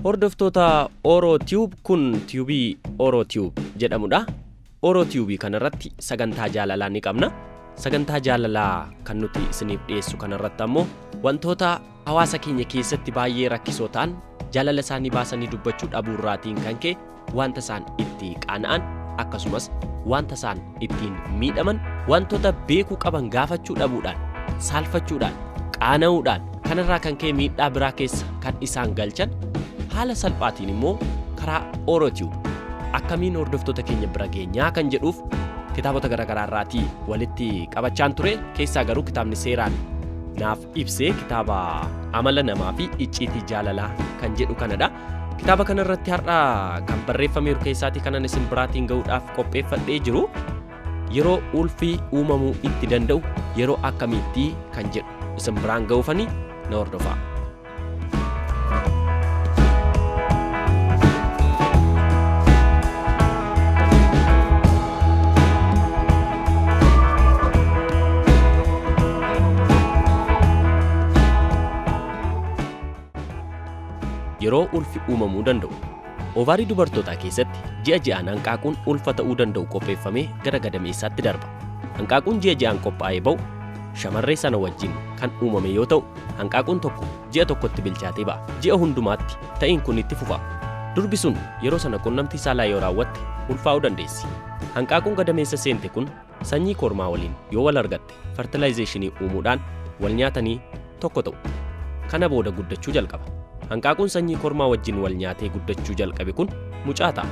Hordoftoota Oro Tube kun tiyubii Oro Tube jedhamudha. Oro Tube kanarratti sagantaa jaalalaa ni qabna. Sagantaa jaalalaa kan nuti isiniif dhiyeessu kanarratti ammoo wantoota hawaasa keenya keessatti baay'ee rakkisoo ta'an jaalala isaanii baasanii dubbachuu dhabuu irraatiin kan ka'e wanta isaan itti qaana'an akkasumas wanta isaan ittiin miidhaman wantoota beekuu qaban gaafachuu dhabuudhaan saalfachuudhaan qaana'uudhaan kanarraa kan ka'e miidhaa biraa keessa kan isaan galchan haala salphaatiin immoo karaa oorotiyu akkamiin hordoftoota keenya bira geenyaa kan jedhuuf kitaabota garaagaraa irraatii walitti qabachaan ture keessaa garuu kitaabni seeraan naaf ibsee kitaaba amala namaa fi icciitii jaalalaa kan jedhu kanadha. Kitaaba kana irratti har'a kan barreeffameeru keessaatii kanan isin biraatiin ga'uudhaaf qopheeffadhee jiru yeroo ulfii uumamuu itti danda'u yeroo akkamiitti kan jedhu isin biraan ga'uufani na hordofaa. yeroo ulfi uumamuu danda'u. Ovaarii dubartootaa keessatti ji'a ji'aan hanqaaquun ulfa ta'uu danda'u qopheeffamee gara gadameessaatti darba. Hanqaaquun ji'a ji'aan qophaa'ee ba'u shamarree sana wajjin kan uumame yoo ta'u Hanqaaquun tokko ji'a tokkotti bilchaatee ba'a. Ji'a hundumaatti ta'iin kun itti fufa. Durbi sun yeroo sana qunnamtii saalaa yoo raawwatte ulfaa'uu dandeessi. Hanqaaquun gadameessa seente kun sanyii kormaa waliin yoo wal argatte fartilaayizeeshinii uumuudhaan wal nyaatanii tokko ta'u. Kana booda guddachuu jalqaba. Hanqaaquun sanyii kormaa wajjin wal nyaatee guddachuu jalqabe kun mucaa ta'a.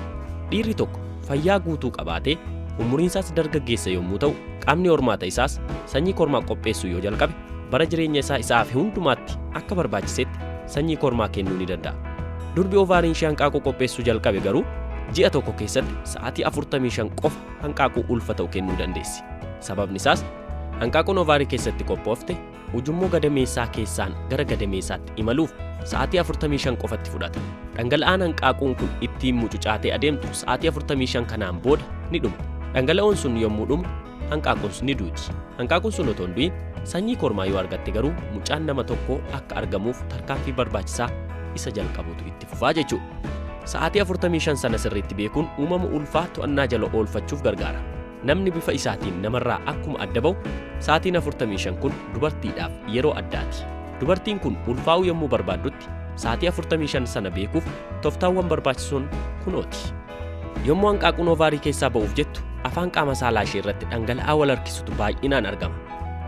Dhiirri tokko fayyaa guutuu qabaatee umuriinsaas dargaggeessa yommuu ta'u qaamni hormaata isaas sanyii kormaa qopheessuu yoo jalqabe bara jireenya isaa isa hafe hundumaatti akka barbaachisetti sanyii kormaa kennuu ni danda'a. Durbi ovaariin ishee hanqaaquu qopheessuu jalqabe garuu ji'a tokko keessatti sa'aatii 45 qofa hanqaaquu ulfa ta'u kennuu dandeessi. Sababni isaas hanqaaquun ovaarii keessatti qophoofte ujummoo gadameessaa keessaan gara gadameessaatti imaluuf sa'aatii 45 qofatti fudhata. Dhangala'aan hanqaaquun kun ittiin mucucaatee adeemtu sa'aatii 45 kanaan booda ni dhuma. Dhangala'oon sun yommuu dhumu hanqaaquuns ni duuti. Hanqaaquun sun otoo hin du'in sanyii kormaa yoo argatte garuu mucaan nama tokkoo akka argamuuf tarkaanfii barbaachisaa isa jalqabuutu itti fufaa jechuudha. Sa'aatii 45 sana sirriitti beekuun uumama ulfaa to'annaa jala oolfachuuf gargaara. Namni bifa isaatiin namarraa akkuma adda ba'u, sa'aatiin 45 kun dubartiidhaaf yeroo addaati. Dubartiin kun ulfaa'uu yommuu barbaaddutti sa'aatii 45 sana beekuuf toftaawwan barbaachisoon kunooti. Yommuu hanqaaquun ovaarii keessaa ba'uuf jettu afaan qaama saalaa ishee irratti dhangala'aa wal harkisutu baay'inaan argama.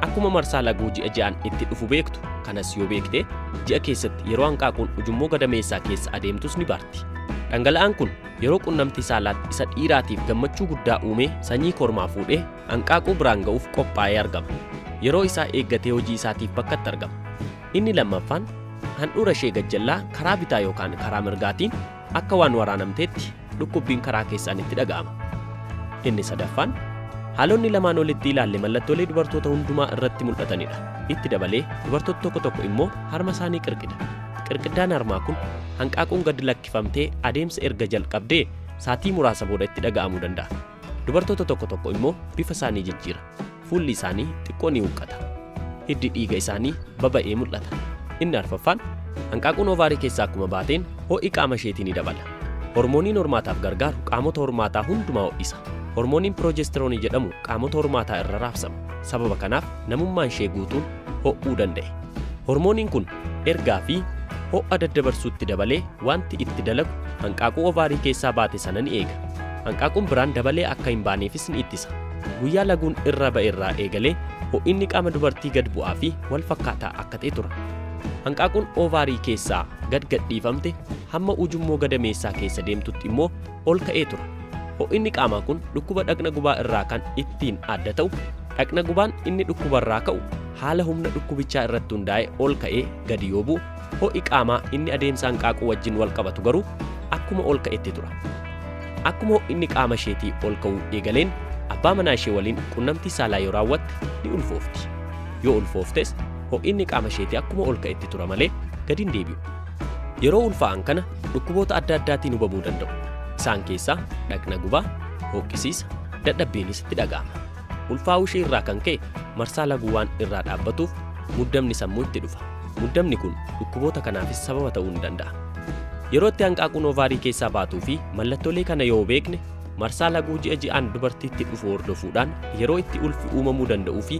Akkuma marsaa laguu ji'a ji'aan itti dhufu beektu kanas yoo beekte ji'a keessatti yeroo hanqaaquun ujummoo gadameessaa keessa adeemtus ni baarti. Dhangala'aan kun yeroo qunnamtii saalaatti isa dhiiraatiif gammachuu guddaa uumee sanyii kormaa fuudhee hanqaaquu biraan ga'uuf qophaa'ee argama. Yeroo isaa eeggatee hojii isaatiif bakkatti argama. Inni lammaffaan handhuura ishee gajjallaa karaa bitaa yookaan karaa mirgaatiin akka waan waraanamteetti dhukkubbiin karaa keessaan itti dhaga'ama. Inni sadaffaan haalonni lamaan olitti ilaalle mallattoolee dubartoota hundumaa irratti mul'atanidha. Itti dabalee dubartoota tokko tokko immoo harma isaanii qirqida. Qirqiddaan harmaa kun hanqaaquun gad lakkifamtee adeemsa erga jalqabdee saatii muraasa booda itti dhaga'amuu danda'a. Dubartoota tokko tokko immoo bifa isaanii jijjiira. Fuulli isaanii xiqqoo ni huqqata. Hiddi dhiiga isaanii baba'ee mul'ata. Inni arfaffaan hanqaaquun ovaarii keessaa akkuma baateen ho'i qaama isheetii ni dabala. Hormooniin hormaataaf gargaaru qaamota hormaataa hundumaa ho'isa. Hormooniin piroojestiroonii jedhamu qaamota hormaataa irra raabsama. Sababa kanaaf namummaan ishee guutuun ho'uu danda'e. Hormooniin kun ergaa fi ho'a daddabarsuutti dabalee wanti itti dalagu hanqaaquu ovaarii keessaa baate sana ni eega. Hanqaaquun biraan dabalee akka hin baaneefis ni ittisa. Guyyaa laguun irra ba'e irraa eegalee ho'inni qaama dubartii gad bu'aa fi wal fakkaataa akka ta'e tura. Hanqaaquun ovaarii keessaa gad gadhiifamte hamma ujummoo gadameessaa keessa deemtutti immoo ol ka'ee ture. Ho'inni qaamaa kun dhukkuba dhaqna gubaa irraa kan ittiin adda ta'u dhaqna gubaan inni dhukkubarraa ka'u haala humna dhukkubichaa irratti hundaa'e ol ka'ee gadi yoo bu'u ho'i qaamaa inni adeemsa hanqaaquu wajjin wal qabatu garuu akkuma ol ka'etti tura. Akkuma ho'inni qaama isheetii ol ka'uu eegaleen abbaa manaa ishee waliin qunnamtii saalaa yoo raawwatte ni ulfoofti. Yoo ulfooftes ho'inni qaama isheetii akkuma ol ka'etti tura malee gadi hin deebi'u. Yeroo ulfaa'an kana dhukkuboota adda addaatiin hubamuu danda'u. Isaan keessaa dhaqna gubaa, hooqqisiisa, dadhabbiinis itti dhaga'ama. Ulfaa'uu ishee irraa kan ka'e marsaa laguu waan irraa dhaabbatuuf muddamni sammuu itti dhufa. Muddamni kun dhukkuboota kanaafis sababa ta'uu ni danda'a. Yeroo itti hanqaaquun ovaarii keessaa baatuu fi mallattoolee kana yoo beekne marsaa laguu ji'a ji'aan dubartiitti dhufu hordofuudhaan yeroo itti ulfi uumamuu danda'uu fi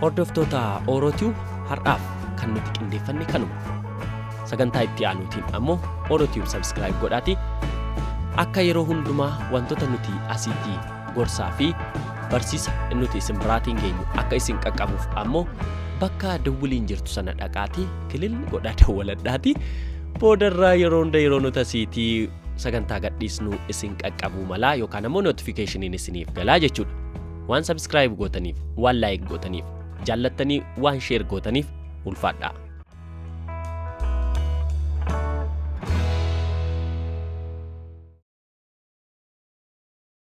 Hordoftoota Oorootiyu har'aaf kan nuti qindeeffanne kanuma. Sagantaa itti aanuutiin ammoo Oorootiyu sabskiraayib godhaatii akka yeroo hundumaa wantoota nuti asitti gorsaa fi barsiisa nuti isin biraatiin geenyu akka isin qaqqabuuf ammoo bakka dawwiliin jirtu sana dhaqaatii kilil godhaa dawwaladhaatii boodarraa yeroo hunda yeroo nuti asiitii sagantaa gadhiisnu isin qaqqabuu malaa yookaan ammoo notifikashiniin isiniif galaa jechuudha. Waan sabskiraayib gootaniif, waan laayik gootaniif, jaallattanii waan sheer gootaniif ulfaadhaa.